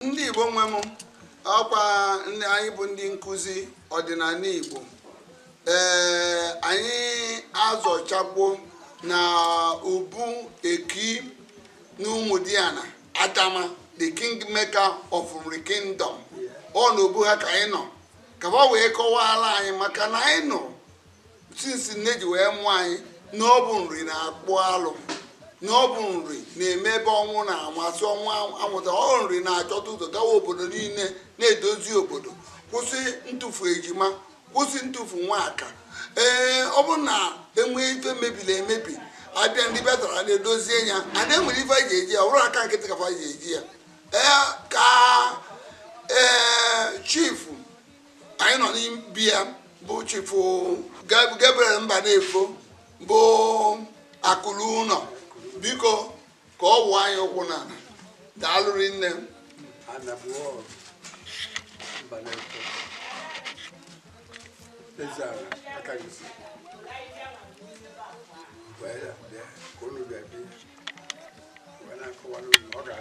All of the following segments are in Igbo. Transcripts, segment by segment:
ndị Igbo nwe m ọkwa anyị bụ ndị nkụzi ọdịnala Igbo ee anyị azọchakwo na obu eki na Ụmụdiana Adama the kingmaker of Nri kingdom ọ na obu ha ka anyị nọ ka ba wee kọwara anyị maka na anyị nụrụ since nne ji wee mụọ anyị na ọ bụ Nri na-akpụ alụ na ọ bụ Nri na-eme ebe ọnwụ na-amasị ọnwụ amụta ọ bụ Nri na-achọta ụzọ gawa obodo niile na-edozi obodo kwụsị ntụfu ejima kwụsị ntụfu nwaka ee ọ bụrụ na e nwee ife mebiri emebi a bịa ndị bịatara na-edozie ya a na-enwere ife e ji eje ya ọ bụrụ aka nkịtị ka fa ji eje ya ee ka ee chief anyị nọ n'ibi ya bụ chifu Gabriel mba na-efo bụ akụlụ ụlọ biko ka ọ wụọ anyị ụkwụ na daalụrị nne m Thank you.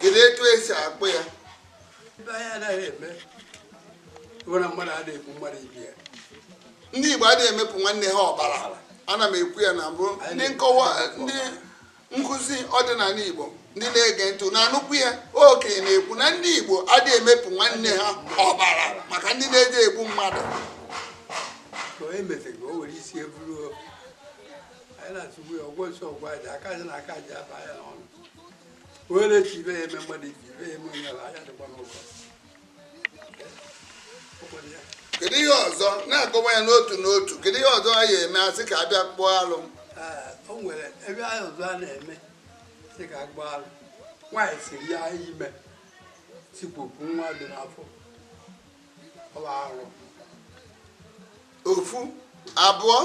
kedu etu esi akpụ ya ibe anyị anaghị eme nwere mmadụ a na-ekwu mmadụ ibe ya ndị igbo adịghị emepụ nwanne ha ọbara ana m ekwu ya na mbụ ndị nkọwa ndị nkụzi ọdịnala igbo ndị na-ege ntị na-anụkwu ya okenye na-ekwu na ndị igbo adịghị emepụ nwanne ha ọbara maka ndị na-eje egbu mmadụ ka o emefere ka o were isi eburu anyị na-atụgbu ya ọgwọ nsọ ọgwọ aja aka aja na aka aja aba ya n'ọnụ onye na-eche ibe ya eme mmadụ ibe ibe ya eme onye ala anya dịkwa n'ụlọ kedu ihe ọzọ na-akọwa ya n'otu n'otu kedu ihe ọzọ a ya-eme a sị ka a bịa kpụọ alụ o nwere ebe anyị ọzọ a na-eme sị ka a kpụọ alụ nwaanyị siri ya ime sikpopụ nwa dị n'afọ ọ bụ arụ ofu abụọ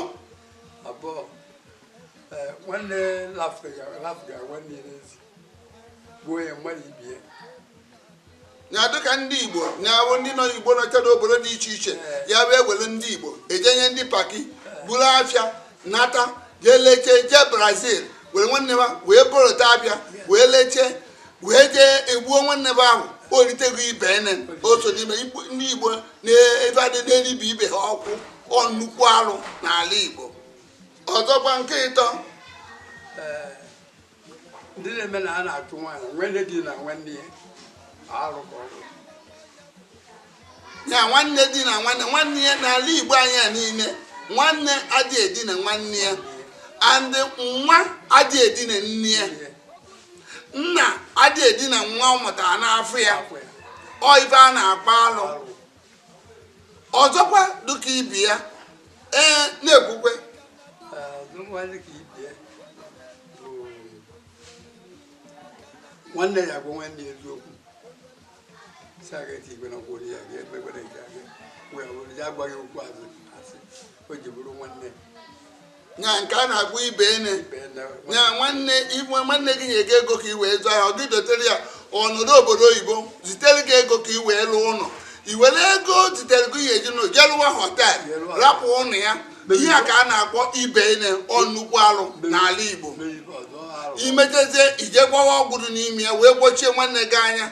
abụọ eh, nwanne lafụga nwanne n'ezi gbuo ya mmadụ ibe ya dịka ndị igbo na-awụ ndị nọ igbo nọcha n'obodo dị iche iche eh. ya wee were ndị igbo ejenye ndị paki eh. buru afịa nata jee lechee jee Brazil were nwanne ha wee borota a bịa wee lechee wee jee egbuo nwanne ha ahụ o riteghị ibe ene o so n'ime ndị igbo na-ebe adị n'eribi ibe ha ọkwụ ọ nnukwu arụ n'ala igbo ọzọkwa nke ịtọ ndị na-eme na a na-achụ nwaanyị nwanne dinaa nwanne ya arụ ka ọ bụ ya nwanne di na nwanne nwanne ya n'ala igbo anyị a niile nwanne adịghị edina nwanne ya and nwa adịghị edina nne ya nna adịghị edina nwa ọ mụtara n'afọ ya ọ ife a na-akpọ alụ ọzọkwa dịka ibi ya ee na-ekwukwe nwanne ya bụ nwanne eziokwu si aga eti igwe n'ọgwụ onye ya ga-emekwere nke a wee bụrụ ya agwaghị okwu azụ asị o ji bụrụ nwanne nya nke a na-akpọ ibenne nya nwanne iwe nwanne gị nyere gị ego ka i wee zụọ ahịa ọ gị dotere ya ọ nọdụ obodo oyibo zitere gị ego ka i wee lụọ ụlọ i were ego zitere gị ya eji n'ụlọ je lụwa hotel rapụ ụlọ ya ihe a ka a na-akpọ ibenne ọ nnukwu alụ n'ala Igbo i metezie i je gbawa ọgwụ dị n'ime ya wee gbochie nwanne gị anya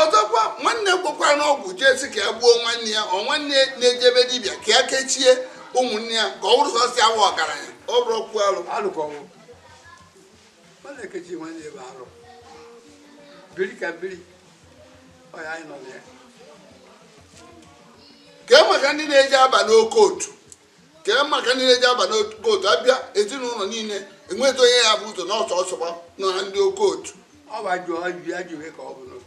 ọzọkwa nwanne gwokwa n'ọgwụ jee sị ka ya gbuo nwanne ya ọ nwanne na-ejebe dibịa ka ya kechie ụmụnne ya ka ọ wụrụ sọsọ ya bụ ọgaranya ọ bụrụ okwu alụ mana ekechi nwa na ebe arụ biri ka biri ọya anyị nọ na ya kee maka ndị na-eji aba n'occult kee maka ndị na-eji aba n'occult a bịa ezinụlọ niile enweta onye ya bụ ụzọ n'ọsọ ọsọgba na ndị occult ọ bụ ajụ ajụ ya jụrụ ka ọ bụ n'otu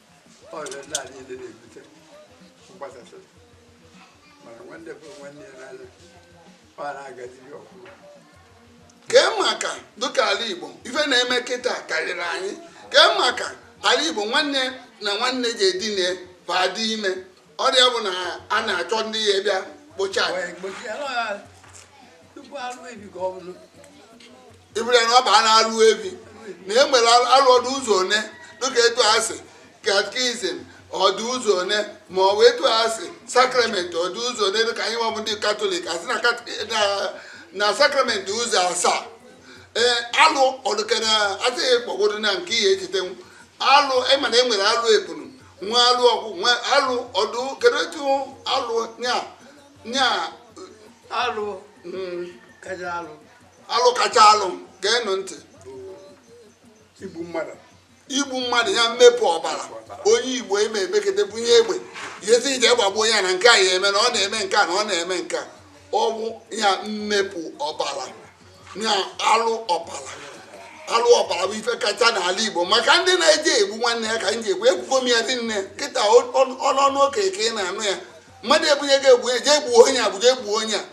kee maka dịka ala igbo ife na-eme kịta karịrị anyị kee maka ala igbo nwanne na nwanne ji edine ba dị ime ọrịa bụ na a na-achọ ndị ya bịa kpocha iburu ya na ọ baa na-alụ ebi na e nwere alụ ọ dụ ụzọ one dịka etu a sị katkizim ọ dụ ụzọ one ma ọ bụ etu a sị sakramenti ọ dụ ụzọ one dịka anyị nwa bụ ndị katọlik a sị na sakramenti ụzọ asaa ee alụ ọdụkere a sị gị kpọgodo na nke i ya-echetenwu alụ ị ma na e nwere alụ ebunu nwe alụ ọgwụ nwe alụ ọdụ kedu etu alụ nya nya alụ mm, kacha alụ alụ kacha alụ geenụ ntị igbu mmadụ igbu mmadụ ya mmepụ ọbara onye igbo eme emekete bunye egbe ya sị je gbagbuo ya na nke a ya eme na ọ na-eme nke a na ọ na-eme nke a ọ wụ ya mmepụ ọbara na alụ ọbara alụ ọbara bụ ife kacha n'ala Igbo maka ndị na-eji egbu nwanne ya ka m ji egbu ekwugo m ya dị nne kịta n'ọnụ okenye ka ị na-anụ ya mmadụ ebunye gị egbe je gbuo onye a bụ je gbuo onye a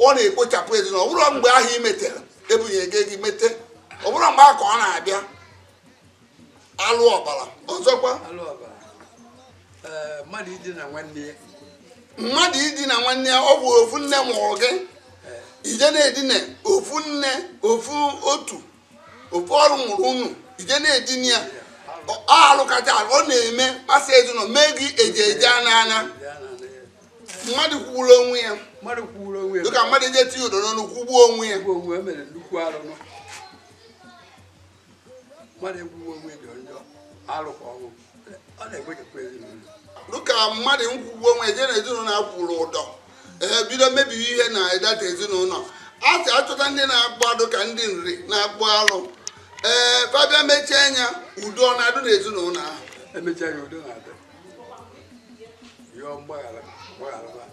ọ na-ekpochapụ ezinụlọ ọ bụrụ mgbe ahụ i metere ebunye gị gị mete ọ bụrụ mgbe ahụ ka ọ na-abịa alụ ọbara ọzọkwa eh, mmadụ idina nwanne ya mmadụ idina nwanne ya ọ bụ ofu nne mụrụ gị eh. i je na-edina ofu nne ofu ọtụ ofu ọrụ mụrụ unu i je na-edina ya alụ kacha alụ ọ na-emekpasa ezinụlọ mee gị eji eje n'anya mmadụ kwugburu onwe ya dịka mmadụ eje tinye ụdọ n'onu kwugbuo onwe ya mmadụ egwuwe onwe dị onye alụkwa ọgwụ ọ na-egbuchapụ ezinụlọ dịka mmadụ nkwugbu onwe je na ezinụlọ akwụrụ ụdọ ee bido mebiwe ihe na ịdata ezinụlọ a sị achọta ndị na-akpụ dịka ndị Nri na-akpụ alụ ee ba abịa mechie anya udo ọ na-adụ na ezinụlọ ahụ emechaa ya udo na-adị yọọ mgbaghara mgbaghara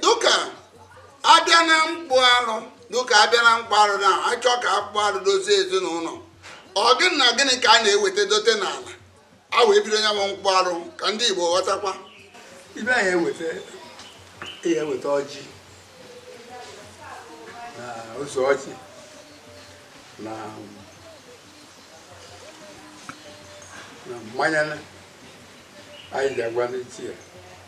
dịka abịa na mkpụ arụ dịka abịa na mkpụ arụ na achọ ka a kpụ arụ dozie ezinụlọ ọ gịnị na gịnị ka a na-eweta dote n'ala a wee bido ya bụ mkpụ arụ ka ndị Igbo ghọtakwa ibe anyị eweta ihe eweta ọjị na ose ọjị na na mmanya anyị ji agwa ndị ichie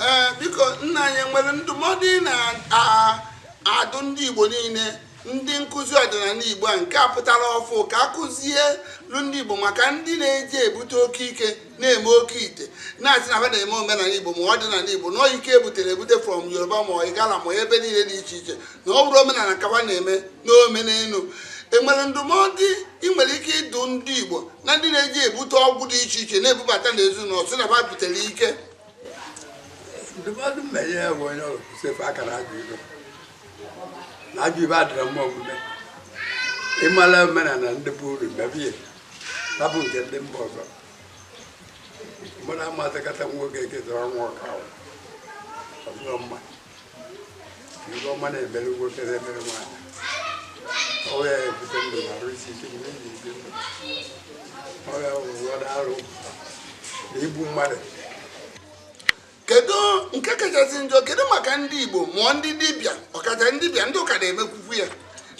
ee biko nna anyị enwere ndụmọdụ ị na-adụ ndị Igbo niile ndị nkụzi ọdịnala Igbo a nke a pụtara ọfụ ka a kụzielu ndị Igbo maka ndị na-eje ebute oke ike na-eme oke ite na-asị na ha na-eme omenala Igbo ma ọdịnala Igbo na ike ebutere ebute from Yoruba ma Igala ma ebe niile dị iche iche na ọ bụrọ omenala ka ba na-eme na ọ omenelu enwere ndụmọdụ ị nwere ike ịdụ ndị Igbo na ndị na-eje ebute ọgwụ dị iche iche na-ebubata n'ezinụlọ sị na ha butere ike ndụmọdụ mmenye ya bụ onye ọrụ kwụsịfe aka na ajọ ibe na ajọ ibe adịrọ mma omume ịmala omenala ndị be unu mebe rapụ nke ndị mba ọzọ mmadụ amasịkata nwoke ketara nwa ọka ahụ ọzọ mma ibe ọma na-emere nwoke na-emere nwaanyị ọ ya ebute ndụ na arụ isi ike mgbe eji ebi ndụ ọ ya ụfọdụ arụ na igbu mmadụ kedu nke kachasị njọ kedu maka ndị Igbo ma ọ ndị dibịa ọkacha ndị dibịa ndị ụka na-emekwukwu ya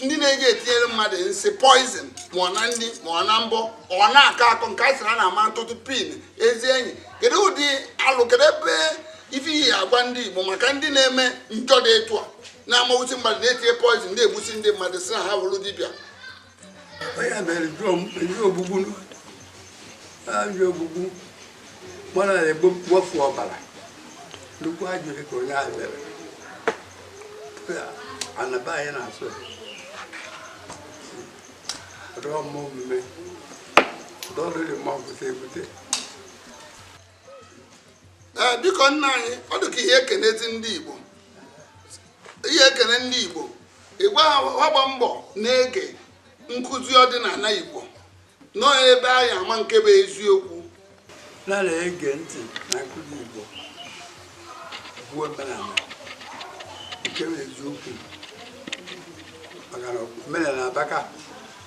ndị na-eji etinyere mmadụ nsị poison ma ọ na nri ma ọ na mbọ ọ na-akọ akọ nke a sịrị a na-ama ntụtụ pin ezi enyi kedu ụdị alụ kedu ebe ife ị ya-agwa ndị igbo maka ndị na-eme njọ dị etu a na-amawusi mmadụ na-etinye poizin na-egbusi ndị mmadụ si na ha wụrụ dibịa ogbugbu mmadụ na-egbufu ọbara nnukwu ajọ ihe ka onye ahụ mere ana be anyị na-asọ rụọ mma omume dọlụrị mma ọgwụta ebute ee biko nna anyị ọ dị ka ị ya-ekenezi ndị igbo ị ya-ekene ndị igbo ị gwa ha ha gba mbọ na-ege nkụzi ọdịnala igbo na ọ ebe a ya-ama nke bụ eziokwu na-ege ntị na nkụzi igbo bụ omenala nke bụ eziokwu maka na omenala abaka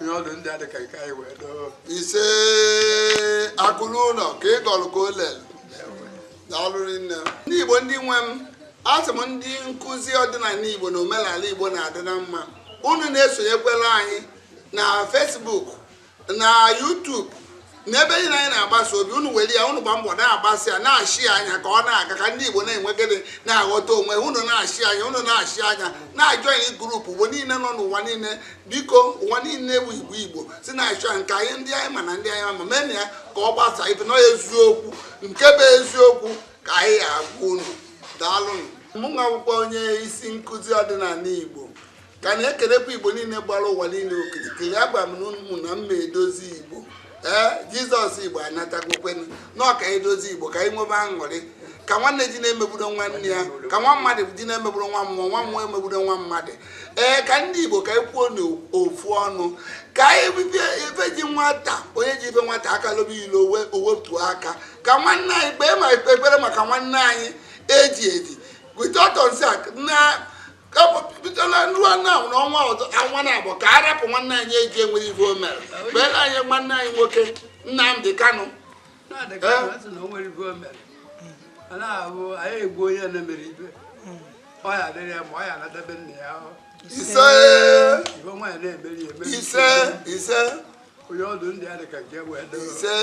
onye ọdụ ndị a dị ka nke anyị wee doo ise akụluo ụnọ ka ị gọrọ ka o lere daalụ rinne ndị igbo ndị nwe m asị m ndị nkụzi ọdịnala igbo na omenala igbo na-adị na mma unu na-esonyekwere anyị na Facebook na YouTube n'ebe niile anyị na-agbasa obi unu were ya unu gba mbọ na-agbasa ya na-share ya ka ọ na-aga ka ndị Igbo na-enwegide na-aghọta onwe ha unu na-share ya unu na-share ya na-ajoin group Igbo niile nọ n'ụwa niile biko ụwa niile bụ Igbo Igbo si na-share ya nke anyị ndị anyị ma na ndị anyị ama meenụ ya ka ọ gbasa ife na eziokwu nke bụ eziokwu ka anyị agwa unu daalụnụ mụ nwa akwụkwọ onye isi nkụzi ọdịnala Igbo ka a na-ekelekwa igbo niile gbara ụwa niile okirikiri agba m na ụmụnna m edozi igbo ee Jesus igbo anatagokwanụ na ọ ka e dozie igbo ka anyị nwebe aṅụrị ka nwanne ji na-emegburu nwanne ya ka nwa mmadụ ji na-emegburu nwa mmụọ nwa mmụọ emegburu nwa mmadụ ee ka ndị igbo ka anyị kwuo n'ofu ọnụ ka anyị bibie ife ji nwata onye ji ife nwata aka lobe ilo o wetuo aka ka nwanne anyị kpee ma ekpere maka nwanne anyị e ji eji without na bidoro ruo na ọnwa ọzọ anwa na-abịa ka a rapụ nwanne anyị e ji enwerọ ife o mere kpeere anyị nwanne anyị nwoke Nnamdi Kanu ise ise ise onye ọdụ ndị a dị ka nke wee ise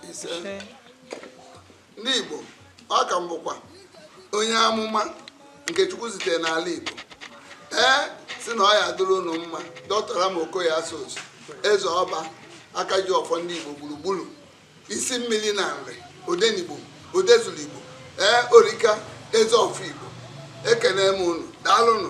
ise ndị Igbo a ka m bụkwa onye amụma nke Chukwu zitere n'ala Igbo ee si na ọ ya-adịrị unu mma Dr. Ram Okoye Asuzu eze ọba aka ji ọfọ ndị Igbo gburugburu isi mmili na Nri odenigbo odezulu Igbo ee orika eze ọfọ Igbo ekene m unu daalụnụ